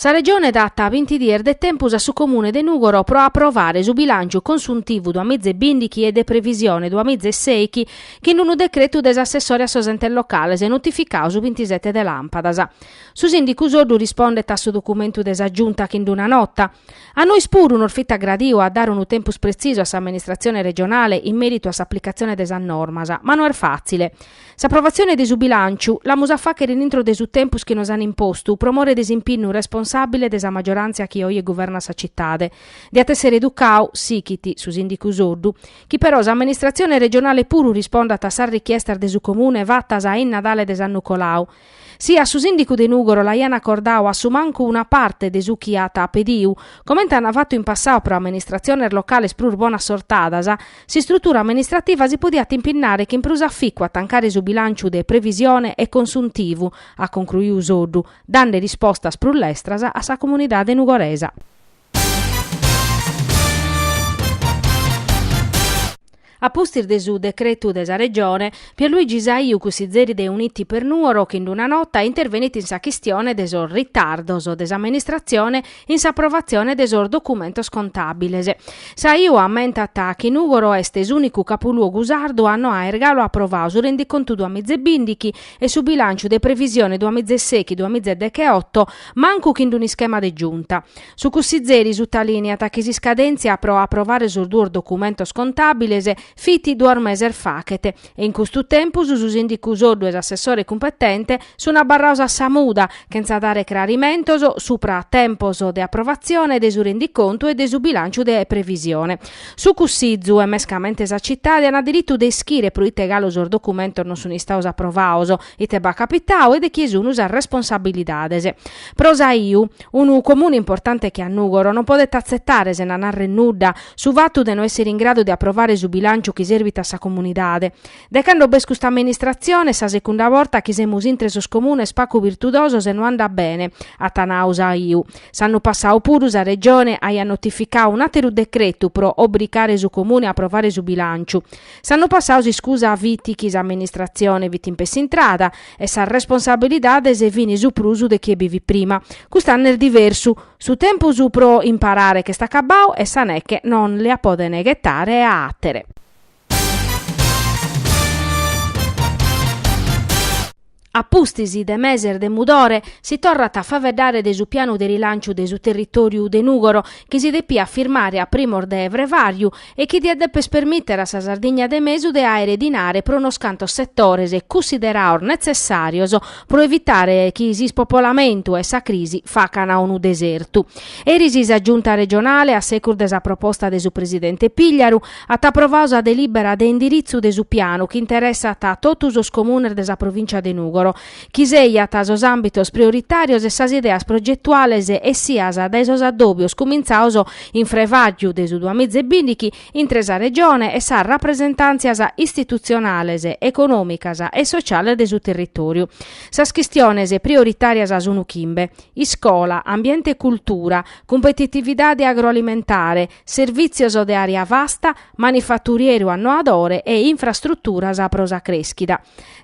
Sa Regione dat binti dies de tempus a su Comune de Nùgoro pro aprovare su bilànciu consuntivu duamiza e bìndighi e de previsione duamiza e sèighi chin unu decretu de s'assessore a sos entes locales notificadu su bintisete de làmpadas. Su sìndicu Soddu rispondet a su documentu de sa Giunta chin d-una nota. A nois puru nos fit agradiu de dare unu tempus pretzisu a s'amministratzione regionale in mèritu a s'aplicatzione de sas normas, ma no est fàtzile. S'aprovatzione de su bilànciu l'amus a fàghere intro de su tempus chi nos an impostu pro more de s'impinnu responsàbile de sa magioràntzia chi oje guvernat sa citade, diat èssere educadu, sighit su sìndicu Soddu, chi però s'amministratzione regionale puru rispondat a sas richiestas de su Comune fatas a in Nadale de s'annu colau, Si a su sìndicu de Nùgoro l'aian acordadu a su mancu una parte de su chi at pediu, comente an fatu in passau pro amministratziones locales prus bonassortadas, s'istrutura amministrativa si podiat impinnare chin prus aficu a tancare su bilànciu de previsione e consuntivu, at concruiu Soddu, dande rispostas prus lestras a sa comunidade nugoresa. A pustis de su decretu de sa Regione, Pierluigi Saiu cussizeri de Uniti per Nuoro chin d-una nota intervenit in sa chistione de sos ritardos de s'amministratzione in s'aprovatzione de sos documentos contàbiles. Saiu ammentat chi Nùgoro est s'ùnicu capuluogu sardu a no aer galu aprovadu su rendicontu duamizebìndighi e su bilànciu de previsione duamizesèighi-duamizedecheoto mancu chin-d-un'ischema de giunta. Su cussizeri sutalìniat chi s'iscadèntzia pro aprovare sos duos documentos contàbiles fit duos meses faghet e in custu tempus su sìndicu Soddu e s'assessore cumpetente sunt abarrados a sa muda chentza dare crarimentos subra a tempos de aprovatzione de su rendicontu e de su bilànciu de previsione. Su cussizu e mescamente sa citade ant diritu de ischire pro ite galu sos documentos non sunt istados aprovados, ite b'at capitadu e de chie sunt sas responsabilidades. Pro Saiu. Unu comune importante che a Nùgoro non podet atzetare, sena narrer nudda, su fatu de no èssere in gradu de aprovare su bilànciu chi serbit a sa comunidade. De cando b'est custa amministratzione sa secunda borta chi semus intre sos comunes pagu virtudosos e no andat bene, at nadu Saiu. S'annu passadu puru sa Regione aiat notificadu un àteru decretu pro obrigare su comune a aprovare su bilànciu. S'annu passadu s'iscusa fit chi s'amministratzione fit in pessu intrada e sas responsabilidades fin su prus de chie bi fit prima. Cust'annu est diversu, su tempus pro imparare ch'est acabbadu e sa neche non li a podene ghetare a àtere. A pustis de meses de mudore, si torrat a faeddare de su pianu de rilanciu de su territòriu de Nùgoro, chi si depiat firmare a primos de frevàriu e chi diat dèpere permìtere a sa Sardigna de mesu de àere dinare pro unos cantos setores cussiderados netzessàrios pro evitare chi s'ispopolamentu e sa crisi facana unu desertu. Eris sa Giunta regionale, a segus de sa proposta de su presidente Pigliaru, at aprovadu sa delìbera de indiritzu de su pianu chi interessat totu sos comunes de sa provìncia de Nùgoro, chi seiat sos àmbitos prioritàrios e sas ideas progetuales essias dae sos addòbios cumintzados in frevàgiu de su duamiza e bìndighi intre sa Regione e sas rapresentàntzias istitutzionales, econòmicas e sotziales de su territòriu. Sas chistiones prioritàrias sunt chimbe, iscola, ambiente e cultura, cumpetitividade agroalimentare, servìtzios de àrea vasta, manifaturieru annoadore e infrastruturas pro sa crèschida.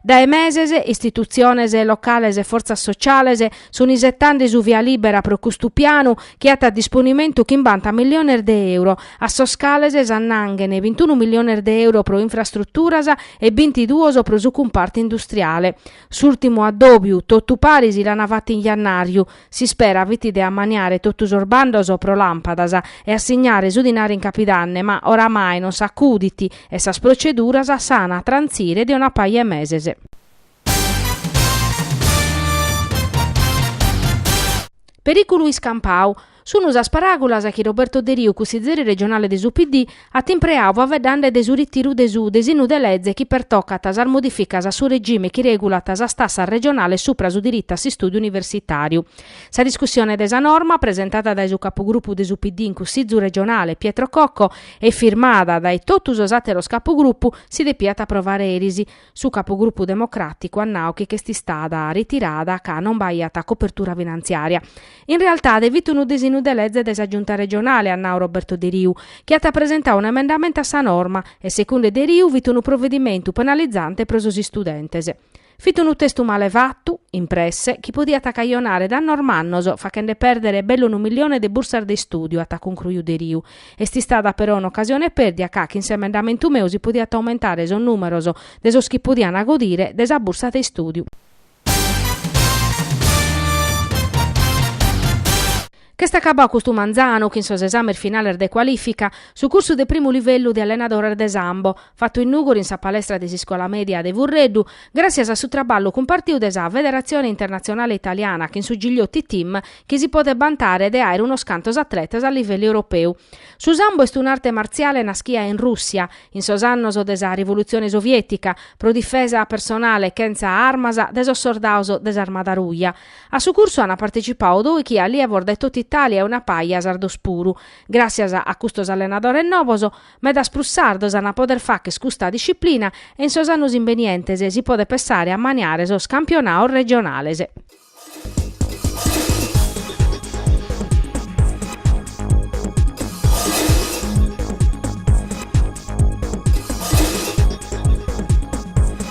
Dae meses, istitutziones locales e fortzas sotziales sunt isetende su via lìbera pro custu pianu chi at a disponimentu chimbanta milliones de euro, a sos cales s'annanghen bintunu milliones de euro pro infrastruturas e bintiduos pro su cumpartu industriale. S'ùrtimu addòbiu, totu paris, l'ana fata in jannàriu, S'ispera fit de ammaniare totu sos bandos pro làmpadas e assignare su dinare in capidanne, ma oramai non s'acudit e sas proceduras s'an a trantzire de una paja 'e meses. Perìculu iscampadu. Sun sas paràgulas chi Roberto Deriu, cussizeri regionale de su PD, at impreau faveddande de su ritiru de su desinnu de leze chi pertocat sas modificas a su regime chi regulat sas tassas regionales supra su diritu a s'istùdiu universitàriu. Sa discussione de sa norma, presentada dae su capugrupu de su PD in Cussìgiu regionale, Pietro Cocco, e firmada dae totu sos àteros capugrupu, si depiat aprovare eris, Su capogrupu democràticu at nau chi ch'est istada ritirada ca non b'aiat copertura finantziària. In realtade fit unu desinnu de leze de sa Giunta regionale, at nau Roberto Deriu, chi at presentau un'emendamentu a sa norma e segunde Deriu fit unu provedimentu penalizante pro sos istudentes. Fit unu testu male fatu, in presse, chi podiat cajonare dannos mannos fachende pèrdere bellu unu millione de bursas de istùdiu, at concruiu Deriu, Est istada però un'ocasione pèrdia ca chin s'emendamentu meu si podiant aumentare sos nùmeros de sos chi podiant godire de sa bursa de istùdiu. Ch'est acabadu custu manzanu chin sos esames finales de cualìfica, su cursu de primu livellu de allenadores de sambo, fatu in Nùgoro in sa palestra de s'iscola mèdia de Furreddu, gràssias a su traballu cumpartiu de sa Federatzione Internatzionale Italiana chin su Gigliotti Team chi si podet bantare de àere unos cantos atletas a livellu europeu. Su Sambo est un'arte martziale naschia in Rùssia, in sos annos de sa Rivolutzione Soviètica, pro difesa personale chentza armas de sos sordados de s'Armada Ruja. A su cursu ant partecipadu dòichi allievos de tot'Itàlia e una paja sardos puru. Gràssias a custos allenadores nobos, Medas prus sardos an a poder fagher custa disciplina e in sos annos imbenientes si podet pensare a maniare sos campionados regionales.